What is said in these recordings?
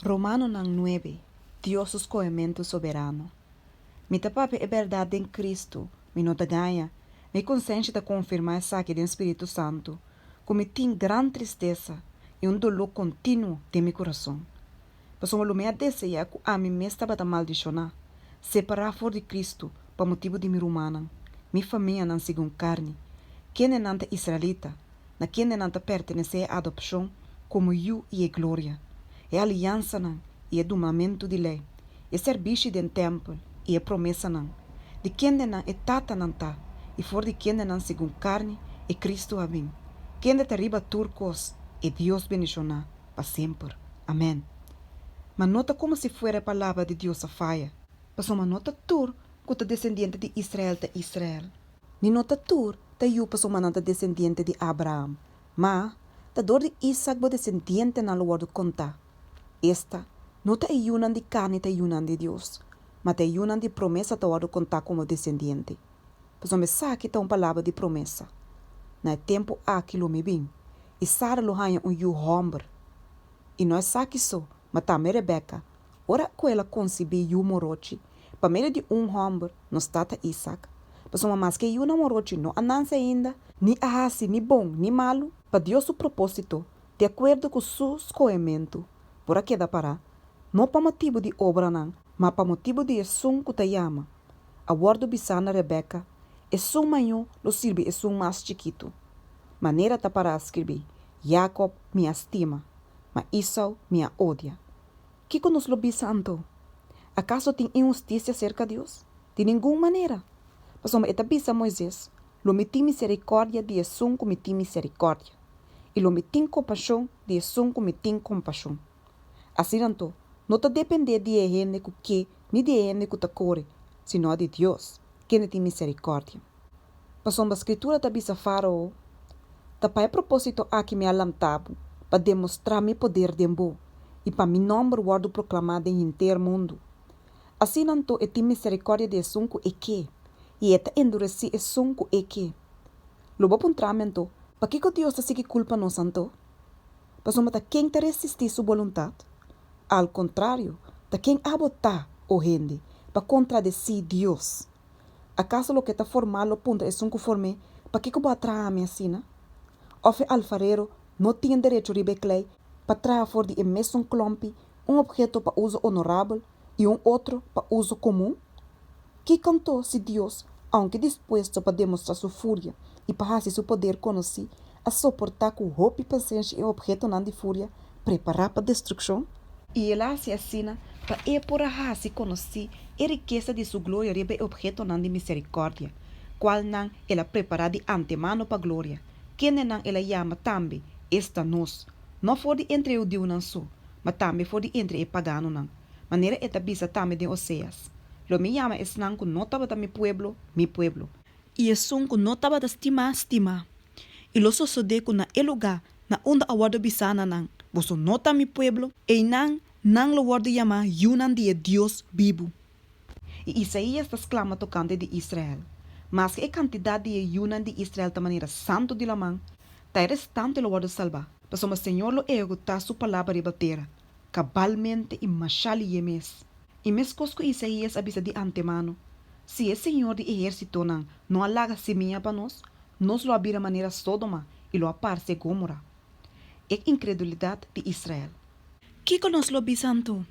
Romanonan nuebe. Dios su scohementu soberano. Mi ta papia e berdad den Cristo, mi no ta gaña, mi consenshi ta confirma esaki den Spiritu Santu, cu mi tin gran tristesa y un dolu continuo den mi curason. Pasobra lo mi a desea cu ami mes tabata maldiciona, separa for di Cristo pa motibu di mi rumannan, mi famianan segun carni, kendenan ta israelita, na kende nan ta pertenesé e adopshon komo yu i e gloria, e aliansanan i e dumamentu di lei, e sèrbishi den tèmpel i e promesanan, di kende nan e tatanan ta, i for di kende nan segun karni e Kristu a bin, kende ta riba tur kos, e Dios bendishoná pa semper. Amèn. Ma no ta komo si fuera e palabra di Dios a faya. Pasobra no ta tur ku ta desendiente di Israel ta Israel. Ni no ta tur ta yu pasobra nan ta desendiente di Abraham, ma ta dor di Isak bo desendientenan lo wòrdu kontá. Esta no ta e yunan di karni ta e yunan di Dios, ma ta e yunan di promesa ta wòrdu kontá komo desendiente. Pasobra esaki ta un palabra di promesa, Na e tempu aki lo mi bin, i Sara lo haña un yu hòmber. I no esaki so, ma tambe Rebeka, ora ku el a konsibí yu morochi, Pa medio di un hòmber, nos tata Isak. Pasobra maske yu nan wòròchi no a nanse ainda, ni a hasi ni bon ni malu, pa Dios su propósito, di akuerdo ku su skohementu, por a keda pará, no pa motibu di obranan, ma pa motibu di esun ku ta yama. A wòrdu bisá na Rebeka, Esun mañó lo sirbi esun mas chikitu. Manera ta pará skirbí, Yakòb mi a stima, ma Isau mi a odia. Kiko nos lo bisa anto? Akaso tin inhustisia serka Dios? Di ningun manera! Pasobra e ta bisa Moises, Lo mi tin miserikòrdia di esun ku mi tin miserikòrdia, i lo mi tin kompashon di esun ku mi tin kompashon. Asina anto, no ta dependé di e hende ku ke ni di e hende ku ta kore, sino di Dios, kende tin miserikòrdia. Pasobra Skritura ta bisa Fárao, Ta pa e propósito aki mi a lantá bo, pa demostrá mi poder den bo i pa mi nòmber wòrdu proklamá den henter mundu. Asina anto e tin miserikòrdia di esun ku e ke, i e ta enduresí esun ku e ke. Lo bo puntrá mi anto, Pakiko Dios ta sigui kulpa nos anto? Pasobra ta ken ta resistí su boluntat? Al kontrario, ta ken a botá, o hende, pa kontradesí Dios? Akaso loke ta formá lo puntra esun ku form'é, Pakiko bo a traha mi asina? Òf e alfarero no tin derecho riba e klei pa traha for di e mesun klòmpi un opheto pa uso onorabel i un otro pa uso komun? Ki kanto si Dios, ounke dispuesto pa demostrá su furia i pa hasi su poder konosí, a soportá ku hopi pasenshi e ophetonan di furia prepará pa destrukshon, i el a hasi asina pa e por a hasi konosí e rikesa di su gloria riba e ophetonan di miserikòrdia, kualnan el a prepará di antemano pa gloria, kendenan el a yama tambe, esta nos, no for di entre e hudiunan so, ma tambe for di entre e paganonan, manera e ta bisa tambe den Oseas, Lo mi yama esnan ku no tabata mi pueblo, mi pueblo. I esun ku no tabata stimá, stimá. I lo sosodé ku na e lugá na unda a wòrdu bisá na nan, Boso no ta mi pueblo, einan nan lo wòrdu yamá yunan di e Dios bibu. I Isaías ta sklama tokante di Israel, Maske e kantidat di e yunan di Israel ta manera santu di laman, ta e restante lo wòrdu salbá, pasobra Señor lo ehekutá su palabra riba tera. Kabalmente i masha lié mes. I meskos ku Isaías a bisa di antemano, si e Señor di ehérsitonan no a laga simiña pa nos, nos lo a bira manera Sódoma i lo a parse Gómora. E inkredulidat di Israel. Kiko nos lo bisa anto?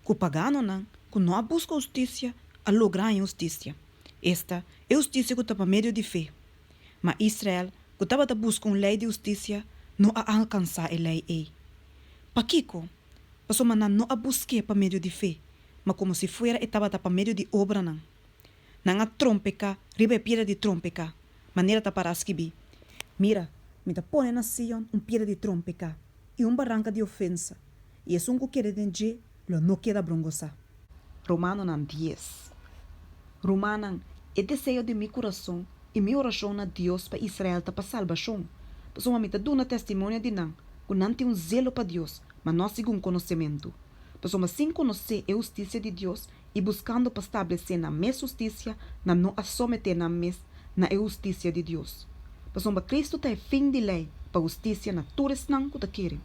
Ku paganonan ku no a buska hustisia a logra haña hustisia. Esta e hustisia ku ta pa medio di fe. Ma Israel, ku tabata buska un lei di hustisia, no a alkansá e lei ei. Pakiko? Pasobra nan no a busk'é pa medio di fe, ma komo si fuera e tabata pa medio di obranan. Nan a trompeká riba e piedra di trompeká, manera ta pará skibi, Mira, mi ta pone na Sion un piedra di trompeká, i un baranka di ofensa, i esun ku keda den dje lo no keda brongosá. Romanonan dies. Rumannan, e deseo di mi kurason i mi orashon na Dios pa Israel ta pa salbashon, pasobra mi ta duna testimonio di nan ku nan tin un zelo pa Dios, ma no a sigun konosementu. Pasobra sin konosé e hustisia di Dios i buskando pa stablesé nan mes hustisia, nan no a someté nan mes na e hustisia di Dios. Pasobra Cristo ta e fin di lei pa hustisia na tur esnan ku ta kere.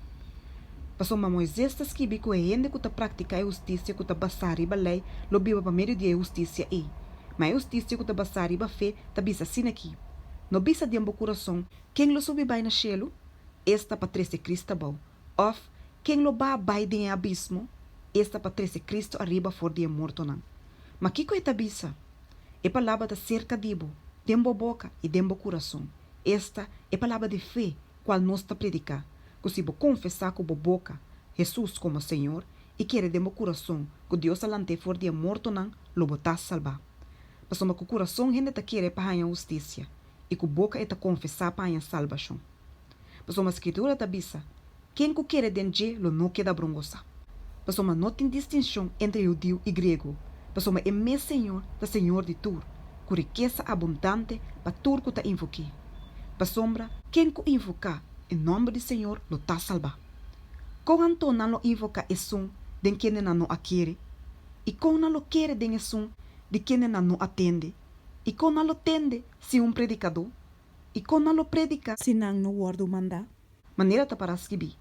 Pasobra Moises ta skibi ku e hende ku ta praktiká e hustisia ku ta basá riba lei lo biba pa medio di e hustisia ei. Ma e hustisia ku ta basá riba fe ta bisa asina aki, No bisa den bo kurason, Ken lo subi bai na shelu? Esta pa trese Kris ta bou. Of, Ken lo ba bai den e abismo? Esta pa trese Kristu ariba for di e mortonan. Ma kiko e ta bisa? E palabra ta serka di bo, den bo boka i den bo kurason. Esta e palabra di fe kual nos ta prediká, ku si bo konfesá ku bo boka Hesus komo Señor i kere den bo kurason ku Dios a lant'é for di e mortonan, lo bo ta salbá. Pasobra ku kurason hende ta kere pa haña hustisia, i ku boka e ta konfesá pa haña salbashon. Pasobra Skitura ta bisa, Ken ku kere den dje lo no keda brongosá. Pasobra no tin distinshon entre hudiu i griego, pasobra e mes Señor ta Señor di tur, ku rikesa abundante pa tur ku ta invok'é. Pasobra. Ken ku invoká e nòmber di Señor lo ta salbá. Kon anto nan lo invoká esun den kende nan no a kere? I kon nan lo kere den esun di kende nan no a tende? I kon nan lo tende sin un predikadó? i kon nan lo prediká? Si nan no wòrdu mandá. Manera ta para skibi,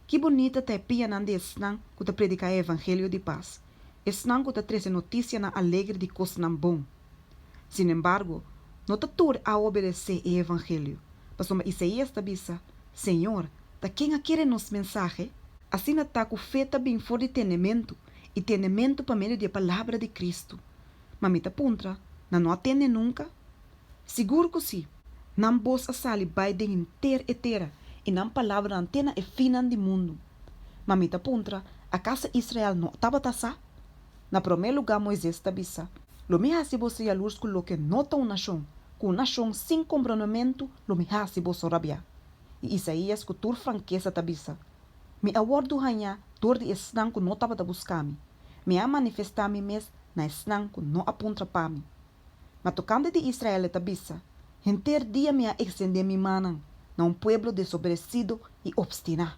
Ki bonita ta e pianan di esnan ku ta prediká e evangelio di pas, esnan ku ta trese notisianan alegre di kosnan bon! Sinembargo, no ta tur a obedesé e evangelio, pasobra Isaías ta bisa, Señor, ta ken a kere nos mensahe? Asina ta ku fe ta bin for di tendementu, i tendementu pa medio di e palabra di Kristu. Ma mi ta puntra, Nan no a tende nunka? Sigur ku sí! Nan bos a sali bai den henter e tera, i nan palabranan te na e finnan di mundu. Ma mi ta puntra, Akaso Israel no tabata sa? Na promé lugá Moises ta bisa, Lo mi hasi boso yalurs ku loke no ta un nashon, ku un nashon sin komprondementu lo mi hasi boso rabiá. I Isaías ku tur frankesa ta bisa, Mi a wòrdu hañá dor di esnan ku no tabata buska mi, mi a manifestá mi mes na esnan ku no a puntra pa mi. Ma tokante di Israel e ta bisa, Henter dia mi a ekstendé mi mannan na un pueblo desoberesido i opstiná.